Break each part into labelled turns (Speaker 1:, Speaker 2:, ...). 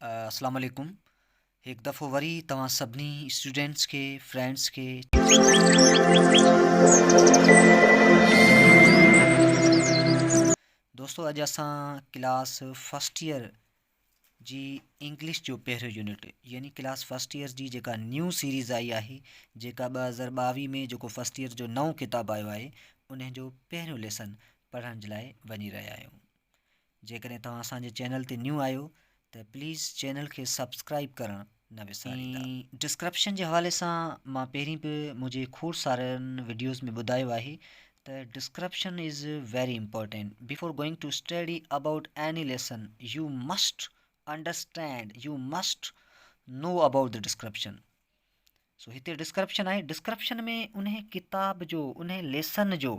Speaker 1: اسلام عليڪم هڪ دفعو وري توهان سڀني اسٽوڊنٽس کي فرينڊس کي دوستو اڄ اسان ڪلاس فرسٽ ايئر جي انگلش جو پهريون يونٽ يعني ڪلاس فرسٽ ايئر جي جيڪا نيو سيريز آئي آهي جيڪا ٻ هزار ٻاويهه ۾ جيڪو فرسٽ ايئر جو نئون ڪتاب آيو آهي ان جو پهريون ليسن پڙهڻ جي لاء وڃي رهيا آهيون جيڪڏهن توهان اسان جي چينل تي نيو آهيو ته پليز چينل کي سبسڪرائيب ڪرڻ نه وساريندا. ڊسڪرپشن جي حوالي سان مان پهرين به منهنجي کوڙ سارن وڊيوز ۾ ٻڌايو آهي ته description is very important before going to study about any lesson you must understand you must know about the description so هتي ڊسڪرپشن آهي ڊسڪرپشن ۾ انهي ڪتاب جو انهي ليسن جو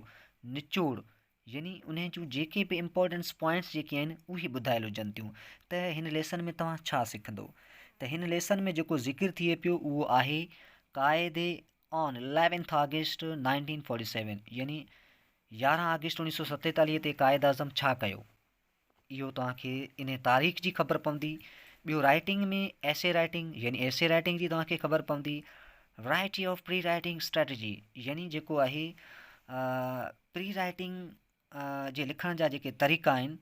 Speaker 1: نچوڙ يعني انهي جون جيڪي به امپورٽنس پوائنٽس جيڪي آهن اهي ٻڌايل هجن ٿيون ته هن ليسن ۾ توهان ڇا سکندو ته هن ليسن ۾ جيڪو ذڪر ٿئي پيو اهو آهي قاعدي on eleventh August nineteen forty seven يعني يارهن آگسٽ اوڻيهه سو ستيتاليهه تي قائد اعظم ڇا ڪيو اهو توهان کي انهي تاريخ جي خبر پوندي. ٻيو رائيٽنگ ۾ ايسي رائيٽنگ يعني ايسي رائيٽنگ جي توهان کي خبر پوندي. Variety of pre writing strategy يعني جيڪو آهي پري رائيٽنگ جي لکڻ جا جيڪي طريقا آهن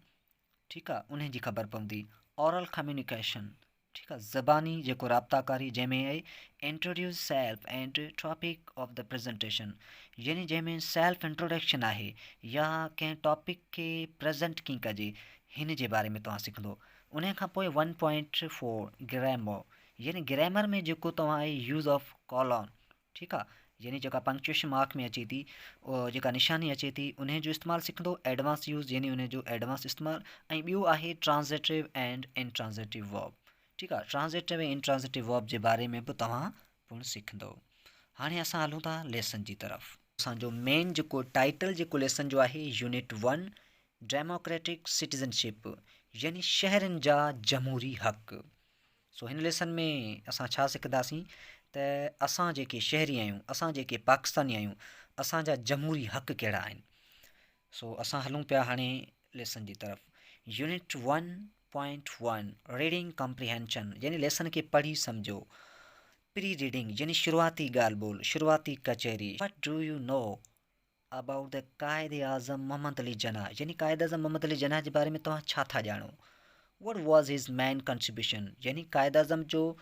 Speaker 1: ٺيڪ آهي انهن جي خبر پوندي. اورل ڪميونيڪيشن ٺيڪ آ زباني جيڪو رابطا ڪاري جنهن ۾ uh introduce self and topic of the presentation يعني جنهن ۾ سيلف انٽروڊڪشن آهي يا ڪنهن ٽاپڪ کي پريزنٽ ڪين ڪجي هن جي باري ۾ توهان سکندو انهي کان پوء ون پوائنٽ فور گريمو يعني گريمر ۾ جيڪو توهان اي يوز آف ڪالون ٺيڪ آ يعني جيڪا پنڪچوئيشن مارڪ ۾ اچي ٿي جيڪا نشاني اچي ٿي انهي جو استعمال سکندو ايڊوانس يوز يعني انهي جو ايڊوانس استعمال ۽ ٻيو آهي ٽرانزيٽو اينڊ انٽرانزيٽو ورب ٺيڪ آ ٽرانزيٽو ۽ انٽرانزيٽو ورب جي باري ۾ به توهان پڻ سکندو هاڻي اسان هلون ٿا ليسن جي طرف اسان جو مين جيڪو ٽائيٽل جيڪو ليسن جو آهي unit one democratic citizenship يعني شهرين جا جمهوري حق سو هن ليسن ۾ اسان ڇا سکنداسين ته اسان جيڪي شهري آهيون اسان جيڪي پاڪستاني آهيون اسان جا جمهوري حق ڪهڙا آهن سو اسان هلون پيا هاڻي ليسن جي طرف unit one point one reading comprehension يعني ليسن کي پڙهي سمجهو پري ريڊنگ يعني شروعاتي ڳالهه ٻولهه شروعاتي ڪچهري وٽ do you know About the Quaid Azam Muhammad Ali Jinnah يعني قائد اعظم محمد علي جناح جي باري ۾ توهان ڇا ٿا ڄاڻو؟ What was his main contribution يعني قائد اعظم جو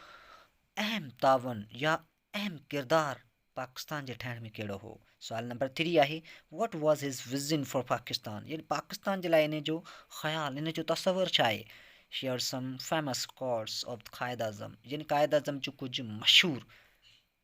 Speaker 1: اهم تعاون يا اهم ڪردار پاڪستان جي ٺهڻ ۾ ڪهڙو هو؟ سوال نمبر ٿري آهي What was his vision for Pakistan يعني پاڪستان جي لاء ان جو خيال ان جو تصور ڇا آهي؟ Share some famous quotes of Quaid Azam يعني قائد اعظم جون ڪجهه مشهور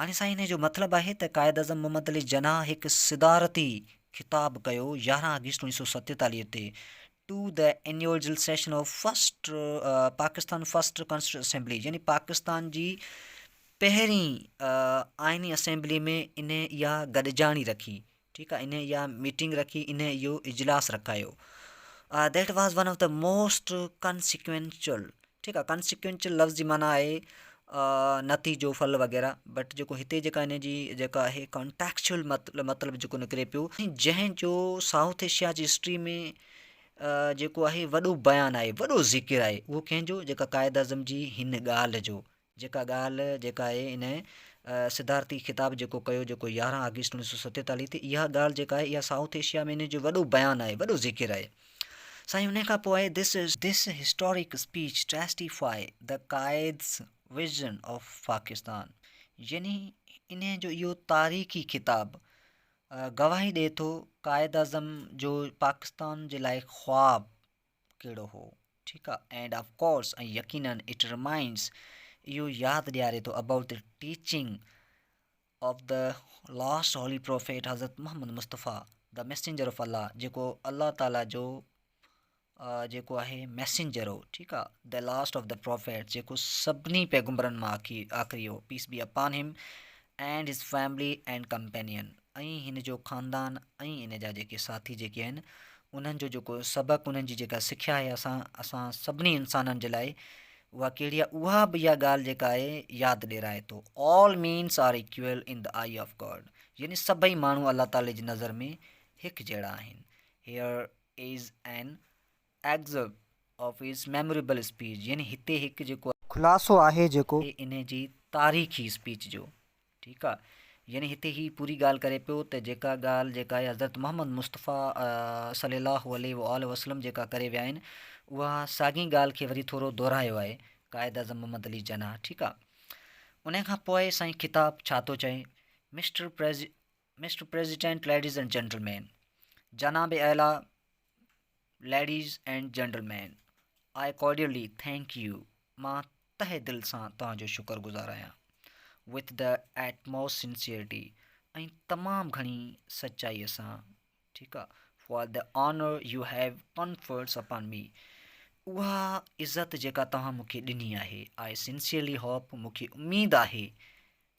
Speaker 1: هاڻي سائين انهيء جو مطلب آهي ته قائداعظم محمد علي جناح هڪ صدارتي خطاب ڪيو يارهن آگسٽ اوڻيهه سؤ ستيتاليهه تي to the inaugural session of first Pakistan first constituent assembly يعني پاڪستان جي پهرين آئيني اسيمبلي ۾ انهيء اها گڏجاڻي رکي ٺيڪ آ انهن اها ميٽنگ رکي انهن اهو اجلاس رکايو that was one of the most consequential ٺيڪ آ ڪنسيڪوينچل لفظ جي معنيٰ آهي نتيجو ڦل وغيره بٽ جيڪو هتي جيڪا هن جي جيڪا هي ڪنٽيڪچل مطلب جيڪو نڪري پيو جنهن جو سائوٿ ايشيا جي هسٽري ۾ جيڪو آهي وڏو بيان آهي وڏو ذڪر آهي اهو ڪنهن جو جيڪا قائد اعظم جي هن ڳالهه جو جيڪا ڳالهه جيڪا اهي ان صدارتي خطاب جيڪو ڪيو جيڪو يارهن آگسٽ اڻيهه سو ستيتاليهه تي اها ڳالهه جيڪا آهي اها سائوٿ ايشيا ۾ ان جو وڏو بيان آهي وڏو ذڪر آهي سائين ان کان پوء آهي This historic speech testifies the Quaid's vision of Pakistan يعني ان جو اهو تاريخي خطاب گواهي ڏئي ٿو قائد اعظم جو پاڪستان جي لاء خواب ڪهڙو هو؟ ٺيڪ آ اينڊ آف ڪورس ۽ يقينن اٽ رمائنڊس اهو ياد ڏياري ٿو about the teaching of the last holy prophet Hazrat Muhammad Mustafa the messenger of Allah جيڪو الله تعالي جو جيڪو آهي ميسينجر هو ٺيڪ آ the last of the prophet جيڪو سڀني پيغمبرن مان آخري هو پيس be upon him and his family and companion ۽ هن جو خاندان ۽ هن جا جيڪي ساٿي جيڪي آهن انهن جو جيڪو سبق انهن جي جيڪا سکيا آهي اسان اسان سڀني انسانن جي لاء اها ڪهڙي آهي اها به اها ڳالهه جيڪا آهي ياد ڏيرائي ٿو all mens are equal in the eye of God يعني سڀئي ماڻهو الله تعالي جي نظر ۾ هڪ جهڙا آهن here is an example of his memorable speech يعني هتي هڪ جيڪو خلاصو آهي جيڪو انهي جي تاريخي اسپيچ جو ٺيڪ آ يعني هتي هي پوري ڳالهه ڪري پيو ته جيڪا ڳالهه جيڪا هي حضرت محمد مصطفيٰ صلي الله عليه واٰله وسلم جيڪا ڪري ويا آهن اها ساڳين ڳالهه کي وري ٿورو دهرايو آهي قائد اعظم محمد علي جناح ٺيڪ آ انهي کان پوء سائين خطاب ڇا ٿو چئي mister pres mister president ladies and gentlemen جناب اعليٰ ladies and gentlemen I cordially thank you مان تهه دل سان توهان جو شڪر گذار آهيان with the utmost sincerity ۽ تمام گهڻي سچائيء سان ٺيڪ آ for the honour you have conferred upon me اها عزت جيڪا توهان مونکي ڏني آهي آء سنسيئرلي هوپ مونکي اميد آهي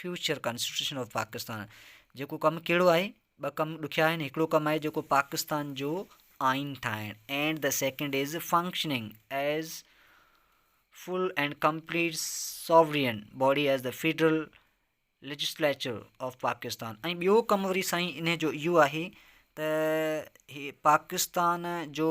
Speaker 1: فيوچر ڪانسٽيٽيوشن آف پاڪستان جيڪو ڪم ڪهڙو آهي؟ ٻه ڪم ڏکيا آهن هڪڙو ڪم آهي جيڪو پاڪستان جو آئين ٺاهڻ and the second is functioning as full and complete sovereign body as the federal legislature of Pakistan ۽ ٻيو ڪم وري سائين ان جو اهو آهي ته هي پاڪستان جو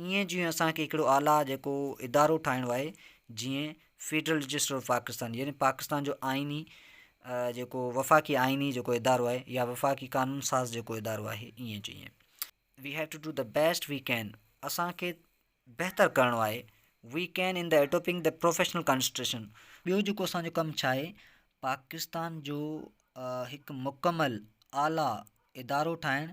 Speaker 1: ايئن جيئن اسان کي هڪڙو اعليٰ جيڪو ادارو ٺاهڻو آهي جيئن فيڊرل رجسٽر آف پاڪستان يعني پاڪستان جو آئيني جيڪو وفاقي آئيني جيڪو ادارو آهي يا وفاقي قانون ساز جيڪو ادارو آهي ايئن جيئن we have to do the best we can اسان کي بهتر ڪرڻو آهي we can in the adopting the professional constitution ٻيو جيڪو اسانجو ڪم ڇا آهي پاڪستان جو هڪ مڪمل اعليٰ ادارو ٺاهڻ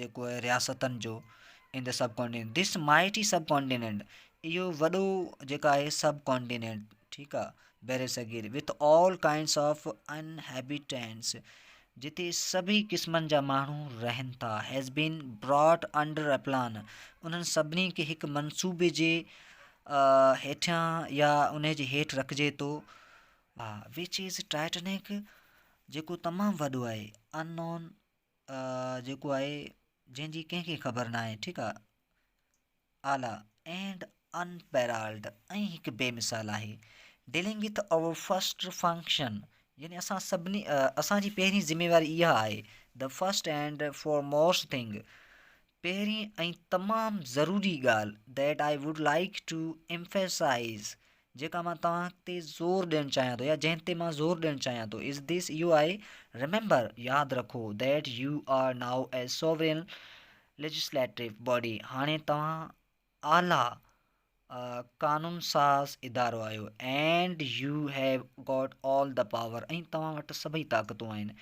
Speaker 1: جيڪو آهي رياستن جو in the subcontinent this mighty sub continent اهو وڏو جيڪا آهي سب ڪانٽيننٽ ٺيڪ آهي بر صغير وت آل ڪائنس آف ان هيبيٽينس جتي سڀئي قسمن جا ماڻهو رهن ٿا has been brought under a plan انهن سڀني کي هڪ منصوبي جي هيٺيان يا ان جي هيٺ رکجي ٿو وچ از ٽائٽنڪ جيڪو تمام وڏو آهي ان نون جيڪو آهي جنهن جي ڪنهن کي خبر نه آهي ٺيڪ آهي اعليٰ اينڊ ان پيرالڊ ۽ هڪ بي مثال آهي dealing with our first function يعني اسان سڀني اسانجي پهرين ذميواري اها آهي the first and foremost thing پهرين ۽ تمام ضروري ڳالهه that I would like to emphasize جيڪا مان توهان تي زور ڏيڻ چاهيان ٿو يا جنهن تي مان زور ڏيڻ چاهيان ٿو از ديس اهو آهي ريميمبر ياد رکو that you are now a sovereign legislative body هاڻي توهان اعليٰ قانون ساز ادارو آهيو and you have got all the power ۽ توهان وٽ سڀئي طاقتون آهن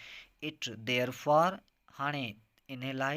Speaker 1: اٽ ديئر فار هاڻي انهي لاء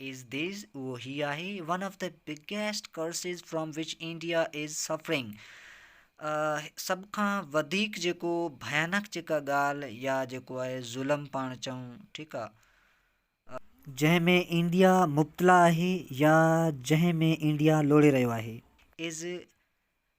Speaker 1: از ديز اهو هي آهي one of the biggest curses from which India is suffering سڀ کان وڌيڪ جيڪو ڀيانڪ جيڪا ڳالهه يا جيڪو آهي ظلم پاڻ چئون ٺيڪ آهي جنهن ۾ انڊيا مبتلا آهي يا جنهن ۾ انڊيا لوڙي رهيو آهي از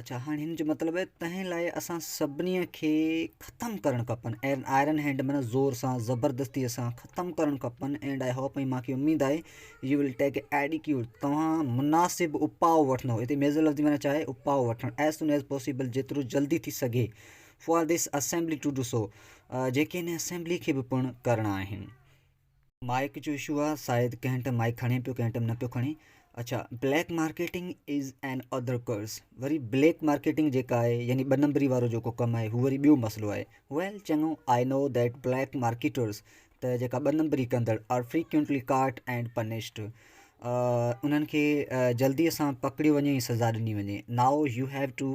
Speaker 1: اڇا هاڻي هن جو مطلب آهي تنهن لاء اسان سڀني کي ختم ڪرڻ کپن ۽ آئرن هينڊ معنيٰ زور سان زبردستيء سان ختم ڪرڻ کپن اينڊ آئي هوپ ۽ مانکي اميد آهي يو ول ٽيڪ اي ايڊيڪيوٽ توهان مناسب اپاء وٺندو هتي ميزل لفظ جي معنيٰ ڇا آهي اپاء وٺڻ ايز سون ايز پاسيبل جيترو جلدي ٿي سگهي for this assembly to do so جيڪي هن اسيمبليء کي به پڻ ڪرڻا آهن مائيڪ جو اشو آ سايد ڪنهن ٽئم مائيڪ کڻي پيو ڪنهن ٽئم نه پيو کڻي اڇا black marketing is another curse وري بليڪ مارڪيٽنگ جيڪا آهي يعني ٻه نمبري وارو جيڪو ڪم آهي هو وري ٻيو مسئلو آهي ويل چڱو آئي نو ديٽ بليڪ مارڪيٽرز ته جيڪا ٻه نمبري ڪندڙ are frequently caught and punished انهن کي جلدي سان پڪڙيو وڃي سزا ڏني وڃي ناء يو هيو ٽو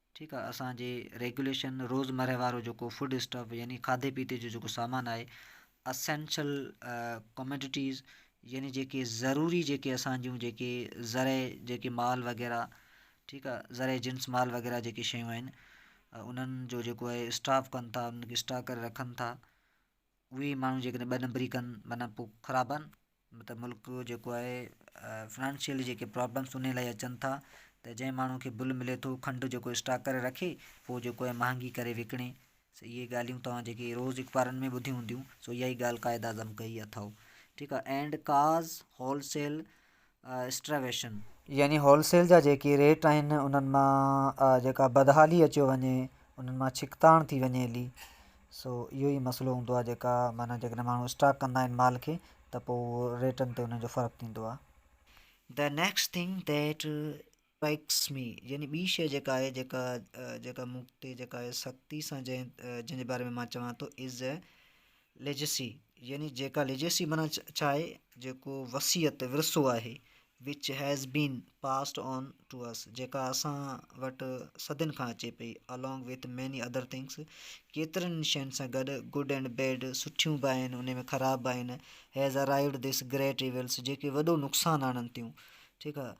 Speaker 1: ٺيڪ آ اسان جي ريگوليشن روزمره وارو جيڪو فوڊ اسٽف يعني کاڌي پيتي جو جيڪو سامان آهي اسينشل ڪميڊٽيز يعني جيڪي ضروري جيڪي اسان جون جيڪي زرعي جيڪي مال وغيره ٺيڪ آ زرعي جنس مال وغيره جيڪي شيون آهن انهن جو جيڪو آهي اسٽاف ڪن ٿا انهن کي اسٽاڪ ڪري رکن ٿا اهي ماڻهو جيڪڏهن ٻه نمبري ڪن معنيٰ پوء خراب آهن مطلب ملڪ جيڪو آهي فنانشيل جيڪي پرابلمس ان لاء اچن ٿا ته جنهن ماڻهو کي بل ملي ٿو کنڊ جيڪو اسٽاڪ ڪري رکي پوء جيڪو آهي مهانگي ڪري وڪڻي سو اهي ڳالهيون تواں جيڪي روز اخبارن ۾ ٻڌيون هونديون سو اها ئي ڳالهه قائد اعظم ڪئي اٿئو ٺيڪ آهي اينڊ ڪاز هولسيل اسٽريويشن. يعني هول سيل جا جيڪي ريٽ آهن انهن مان جيڪا بدحالي اچيو وڃي انهن مان ڇڪتاڻ ٿي وڃي هلي سو اهو ئي مسئلو هوندو آهي جيڪا معنيٰ جيڪڏهن ماڻهو اسٽاڪ ڪندا آهن مال کي ته پوء ريٽن تي انهن جو فرق ٿيندو آهي. The next thing that Likes me، يعني ٻي شيء جيڪا آهي، جيڪا جيڪا مون تي جيڪا آهي سختي سان جنهن جنهن جي باري ۾ مان چوان ٿو از اي ليجسي يعني جيڪا ليجسي معنيٰ ڇا آهي جيڪو وصيت ورثو آهي which has been passed on to us جيڪا اسان وٽ صدين کان اچي پئي along with mini other things ڪيترن شين سان گڏ گڊ اينڊ بيڊ سٺيون به آهن ان ۾ خراب به آهن has arrived this great evils جيڪي وڏو نقصان آڻن ٿيون ٺيڪ آهي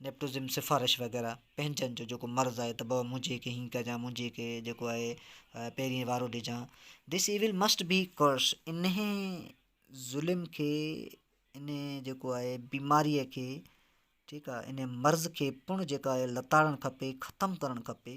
Speaker 1: نيپوٽزم سفارش وغيره پنهنجن جو جيڪو مرض آهي ته بابا منهنجي کي هيئن ڪجان منهنجي کي جيڪو آهي پيرين وارو ڏجان دس ايول مسٽ بي ڪرس انهي ظلم کي انهي جيڪو آهي بيماريء کي ٺيڪ آهي انهي مرض کي پڻ جيڪا آهي لتاڙڻ کپي ختم ڪرڻ کپي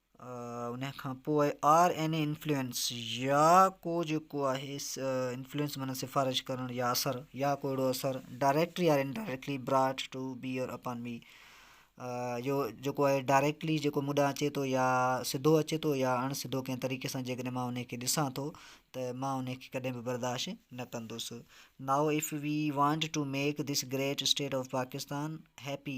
Speaker 1: ان کان پوء آر اين اي انفلوئنس يا ڪو جيڪو آهي انفلوئنس معنيٰ سفارش ڪرڻ يا اثر يا ڪو اهڙو اثر ڊائريڪٽلي يا indirectly brought to bear upon me جو جيڪو آهي ڊائريکٽلي جيڪو مون ڏانهن اچي ٿو يا سڌو اچي ٿو يا اڻ سڌو ڪنهن طريقي سان جي ڪڏهن مان ان کي ڏسان ٿو ته مان ان کي ڪڏهن به برداشت نه ڪندس now if we want to make this great state of Pakistan happy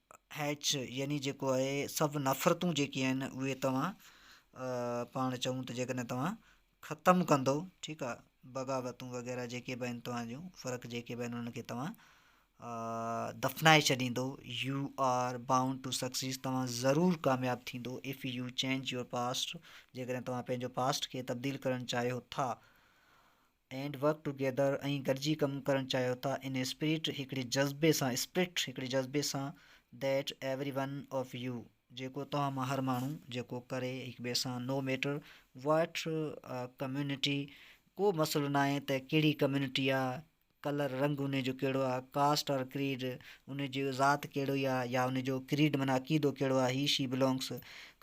Speaker 1: هيچ يعني جيڪو آهي سڀ نفرتون جيڪي آهن اهي توهان پاڻ چئون ته جيڪڏهن توهان ختم ڪندو ٺيڪ آهي بغاوتون وغيره جيڪي به آهن توهان جون فرق جيڪي به آهن انهن کي توهان دفنائي ڇڏيندو you are bound to success توهان ضرور ڪامياب ٿيندو if you change your past جيڪڏهن توهان پنهنجو پاسٽ کي تبديل ڪرڻ چاهيو ٿا اينڊ ورڪ ٽوگيدر ۽ گڏجي ڪم ڪرڻ چاهيو ٿا ان اسپريٽ هڪڙي جذبي سان اسپرٽ هڪڙي جذبي سان that every one of you جيڪو توهان مان هر ماڻهو جيڪو ڪري هڪ ٻئي سان نو ميٽر واٽ ڪميونٽي ڪو مسئلو ناهي ته ڪهڙي ڪميونٽي آ ڪلر رنگ ان جو ڪهڙو آ ڪاسٽ آر ڪريڊ ان جي ذات ڪهڙو آ يا ان جو ڪريڊ معنيٰ عقيدو ڪهڙو آ هي شي بلونگس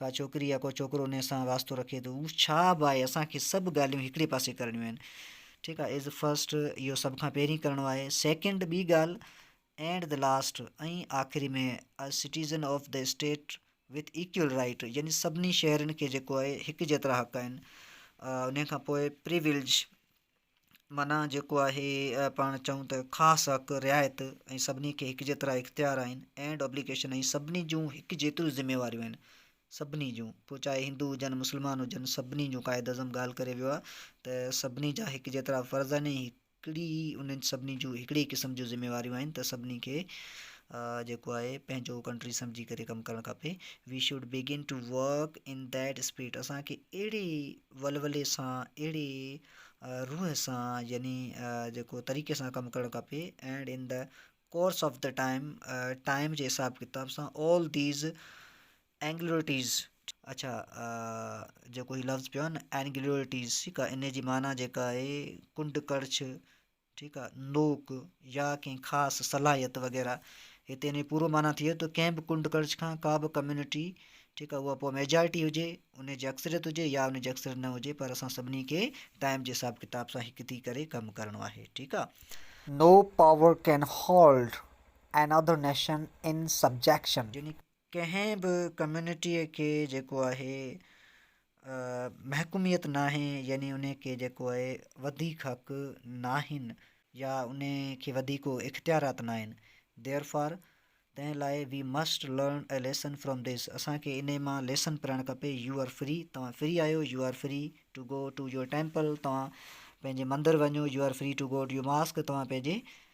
Speaker 1: ڪا ڇوڪري يا ڪو ڇوڪرو انهيء سان واسطو رکي ٿو. هو ڇا به آهي، اسان کي سڀ ڳالهيون هڪڙي پاسي ڪرڻيون آهن. ٺيڪ آهي از فرسٽ اهو سڀ کان پهرين ڪرڻو آهي. سيڪنڊ ٻي ڳالهه اينڊ دي لاسٽ ۽ آخري ۾ a citizen of the state with equal right يعني سڀني شهرين کي جيڪو آهي هڪ جيترا حق آهن انهيء کان پوء پريولج معنيٰ جيڪو آهي پاڻ چئون ته خاص حق، رعايت ۽ سڀني کي هڪ جيترا اختيار آهن اينڊ ابليگيشن ۽ سڀني جون هڪ جيتريون ذميواريون آهن. سڀني جون. پوء چاهي هندو هجن مسلمان هجن سڀني جون قائداعظم ڳالهه ڪري ويو آهي ته سڀني جا هڪ جيترا فرض آهن ۽ هڪڙي ئي انهن سڀني جون هڪڙي ئي قسم جون ذميواريون آهن ته سڀني کي جيڪو آهي پنهنجو ڪنٽري سمجهي ڪري ڪم ڪرڻ کپي. We should begin to work in that spirit اسان کي اهڙي ولولي سان اهڙي روح سان يعني جيڪو طريقي سان ڪم ڪرڻ کپي and in the course of the time time جي حساب ڪتاب سان آل ديز اينگلوئٽيز اڇا جيڪو هي لفظ پيو آهي نه اينگلوئٽيز ٺيڪ آهي ان جي معنيٰ جيڪا آهي ڪنڊ ڪڙڇ ٺيڪ آ نوڪ يا ڪنهن خاص صلاحيت وغيره هتي ان جي پورو معنيٰ ٿئي ته ڪنهن به ڪنڊ ڪڙڇ کان ڪا به ڪميونٽي ٺيڪ آ اها پوء ميجارٽي هجي ان جي اڪثريت هجي يا ان جي اڪثريت نه هجي پر اسان سڀني کي ٽائيم جي حساب ڪتاب سان هڪ ٿي ڪري ڪم ڪرڻو آهي ٺيڪ آ. No power can hold another nation in subjection. ڪنهن به ڪميونٽيء کي جيڪو آهي محڪوميت ناهي يعني ان کي جيڪو آهي وڌيڪ حق ناهن يا ان کي وڌيڪ ڪو اختيارات ناهن ديئر فار تنهن لاء we must learn a lesson from this اسان کي انهي مان ليسن پڙهڻ کپي يو آر فري توهان فري آهيو you are free to go to your temple توهان پنهنجي مندر وڃو you are free to go to your mosque توهان پنهنجي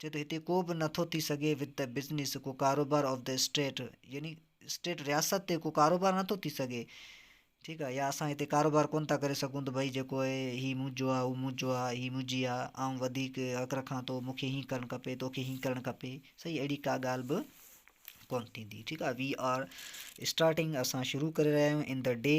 Speaker 1: چئي ٿو هتي ڪو به نه ٿو ٿي سگهي وٿ دي بزنس ڪو ڪاروبار آف دي اسٽيٽ يعني اسٽيٽ رياست تي ڪو ڪاروبار نه ٿو ٿي سگهي ٺيڪ آهي يا اسان هتي ڪاروبار ڪون ٿا ڪري سگهون ته ڀئي جيڪو آهي هي منهنجو آهي هو منهنجو آهي هي منهنجي آهي آئون وڌيڪ حق رکان ٿو مونکي هي ڪرڻ کپي توکي هي ڪرڻ کپي صحيح اهڙي ڪا ڳالهه به ڪون ٿيندي ٺيڪ آهي وي آر اسٽارٽنگ اسان شروع ڪري رهيا آهيون ان د ڊي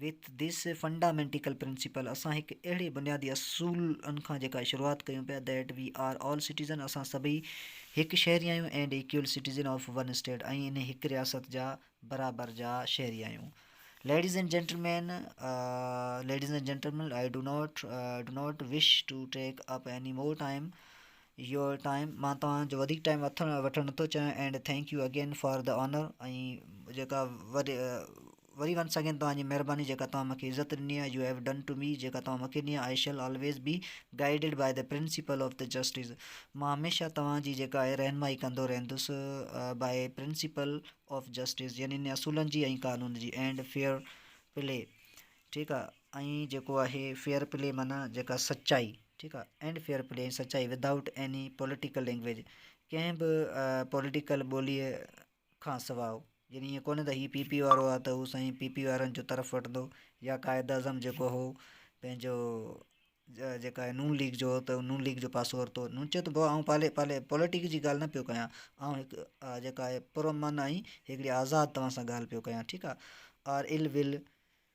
Speaker 1: وٿ ڌيس فنڊامينٽيڪل پرنسيپل اسان هڪ اهڙي بنيادي اصول ان کان جيڪا شروعات ڪيون پيا that we are all citizen اسان سڀئي هڪ شهري آهيون and equal citizen of one state ۽ انهي هڪ رياست جا برابر جا شهري آهيون ladies and gentlemen ladies and gentlemen I do not do not wish to take up any more time your time مان توهان جو وڌيڪ ٽائيم وٺڻ نٿو چاهيان and thank you again for the honour ۽ جيڪا وري ونس اگين توهان جي مهرباني جيڪا توهان مونکي عزت ڏني آهي you have done to me جيڪا توهان مونکي ڏني آهي I shall always be guided by the principle of the justice مان هميشه توهان جي جيڪا آهي رهنمائي ڪندو رهندس بائي پرنسپل آف جسٽس يعني ان اصولن جي ۽ قانون جي اينڊ فيئر پلي ٺيڪ آهي ۽ جيڪو آهي فيئر پلي معنيٰ جيڪا سچائي ٺيڪ آهي اينڊ فيئر پلي ۽ سچائي without any political language ڪنهن به پوليٽيڪل ٻوليء کان سواء يعني ائين ڪونهي ته هي پي پي وارو آهي ته هو سائين پي پي وارن جو طرف وٺندو يا قائد اعظم جيڪو هو پنهنجو جيڪا آهي نون ليگ جو هو ته نون ليگ جو پاسو ورتو نون چيو ته بابا آئون پالي پوليٽڪ جي ڳالهه نه پيو ڪيان آئون هڪ جيڪا آهي پر امن آئين هڪڙي آزاد توهان سان ڳالهه پيو ڪيان ٺيڪ آهي آر ال ول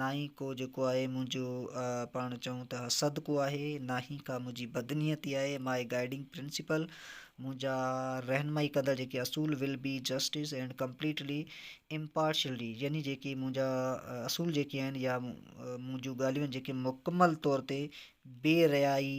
Speaker 1: ناهي ڪو جيڪو آهي منهنجو پاڻ چئون ته حسد ڪو آهي ناهي ڪا منهنجي بدنيتي آهي ماء گائيڊنگ پرنسپل منهنجا رهنمائي ڪندڙ جيڪي اصول will be justice and completely impartiality يعني جيڪي منهنجا اصول جيڪي آهن يا منهنجون ڳالهيون جيڪي مڪمل طور تي بي ريائي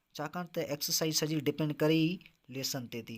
Speaker 1: ڇاڪاڻ ته ايڪسرسائيز سڄي ڊپينڊ ڪري ئي ليسن تي ٿي.